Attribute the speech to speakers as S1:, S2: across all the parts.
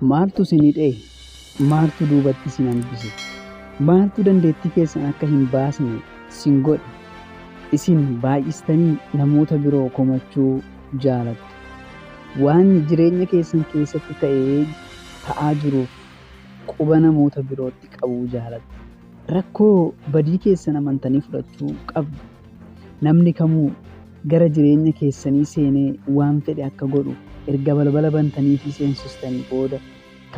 S1: Maaltu isin hidhe? Maaltu duubatti isin hambise? Maaltu dandeettii keessan akka hin baasne isin godhe? Isin baay'istanii namoota biroo komachuu jaalattu. Waan jireenya keessan keessatti ta'ee ta'aa jiruuf quba namoota birootti qabuu jaalattu. Rakkoo badii keessan amantanii fudhachuu qabdu. Namni kamuu gara jireenya keessanii seenee waan fedhe akka godhu erga balbala bantanii fi seensistanii booda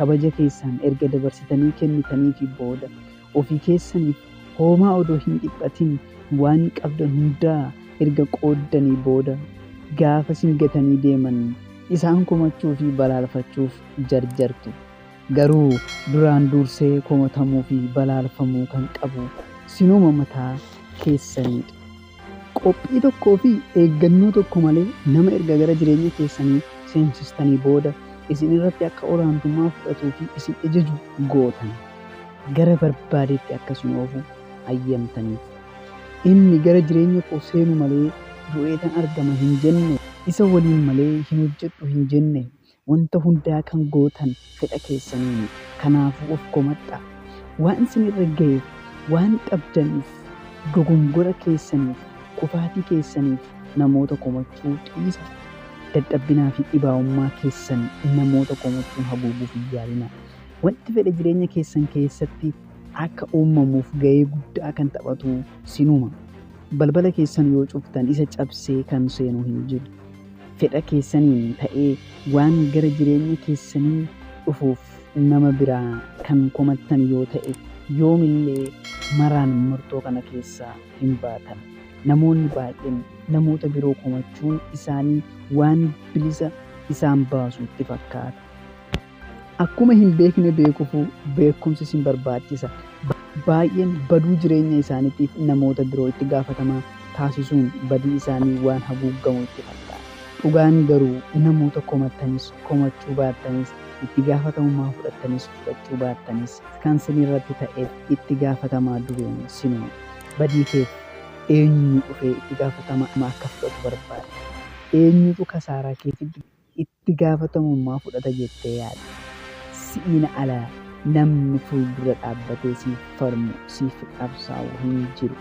S1: kabaja keessaan erga dabarsitanii kennitanii fi booda ofii keessaniif hoomaa odoo hin dhiphatin waan qabdan hundaa erga qooddanii booda gaafa sin gatanii deeman isaan komachuu fi balaalfachuuf jarjartu. Garuu duraan duursee komatamuu fi balaalfamuu kan qabu sinuma mataa keessaniidha. Qophii tokkoo fi eeggannoo tokko malee nama erga gara jireenya keessanii seensistanii booda isin irratti akka olaantummaa fudhatuu fi isin ejaju gootan, gara barbaadetti akka isin oofu hayyamtaniif. Inni, Gara jireenya koo seenu malee du'eetan argama hin jenne, isa waliin malee hin hojjedhu hin jenne, Wanta hundaa kan gootan fedha keessaniini. Kanaafuu of komadhaa. Waan isin irra gayeef waan qabdaniif dogongora keessaniif kufaatii keessaniif namoota komachuu dhiisa. Dadhabbinaa fi dhibaa'ummaa keessan namoota komachuun haguuguuf hin yaalinaa. Wanti fedhe jireenya keessan keessatti akka uumamuuf gayee guddaa kan taphatu sinuma. Balbala keessan yoo cuftan isa cabsee kan seenu hin jiru. fedha keessaniin ta'ee waan gara jireenya keessanii dhufuuf nama biraa kan komattan yoo ta'e, yoomillee maraan murtoo kana keessaa hin baatan. Namoonni baay'een namoota biroo komachuun isaanii waan bilisa isaan baasu itti fakkaata. Akkuma hin beekne beekufu beekumsi sin barbaachisa. Baay'een baduu jireenya isaaniitiif namoota biroo itti gaafatamaa taasisuun badii isaanii waan haguuggamu itti fakkaata. Dhugaan garuu namoota komattanis komachuu baattanis, itti gaafatamummaa fudhattanis fudhachuu baattanis kan sin irratti ta'eef itti gaafatamaa dureen sinuma. Badii keef eenyu dhufee itti gaafatama akka fudhatu barbaadda? Eenyutu kasaaraa keetiif dirqama? itti gaafatamummaa fudhata jettee yaadda? Si'iin ala namni fuuldura dhaabbatee siif falmu, siif qabsaa'u hin jiru.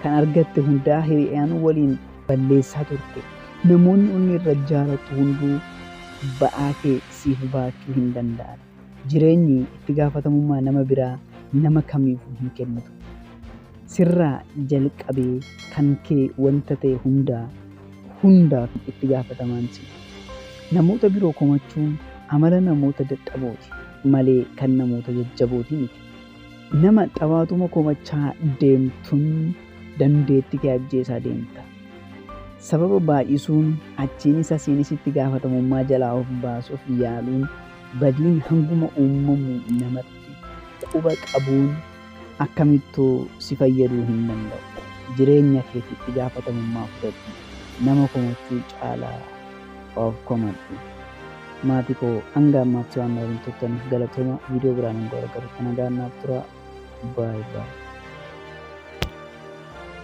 S1: Kan argatte hundaa hiriyaan waliin balleessaa turte. Namoonni onnee irra jaalattu hunduu ba'aa kee siif baachuu hin danda'an. Jireenyi itti gaafatamummaa nama biraa nama kamiifuu hin kennitu. Sirraa jalqabee kan kee wanta ta'e hundaa hundaaf itti gaafatamaan si. Namoota biroo komachuun amala namoota dadhabooti malee kan namoota jajjabooti miti. Nama xabaatuma komachaa deemtun dandeetti kee ajjeesaa deemta. Sababa baay'isuun achiinis asiinis itti gaafatamummaa jalaa of baasuuf yaaluun Badiin hanguma uumamu namatti quba qabuun akkamittuu si fayyaduu hin danda'u. Jireenya keef itti gaafatamummaa fudhadhu. Nama komachuu caalaa of komadhu. Maatii koo hanga ammaatti waan na waliin turtaniif galatooma. Viidiyoo biraan hanga wal agarrutti nagaan naaf turaa. Baay baay.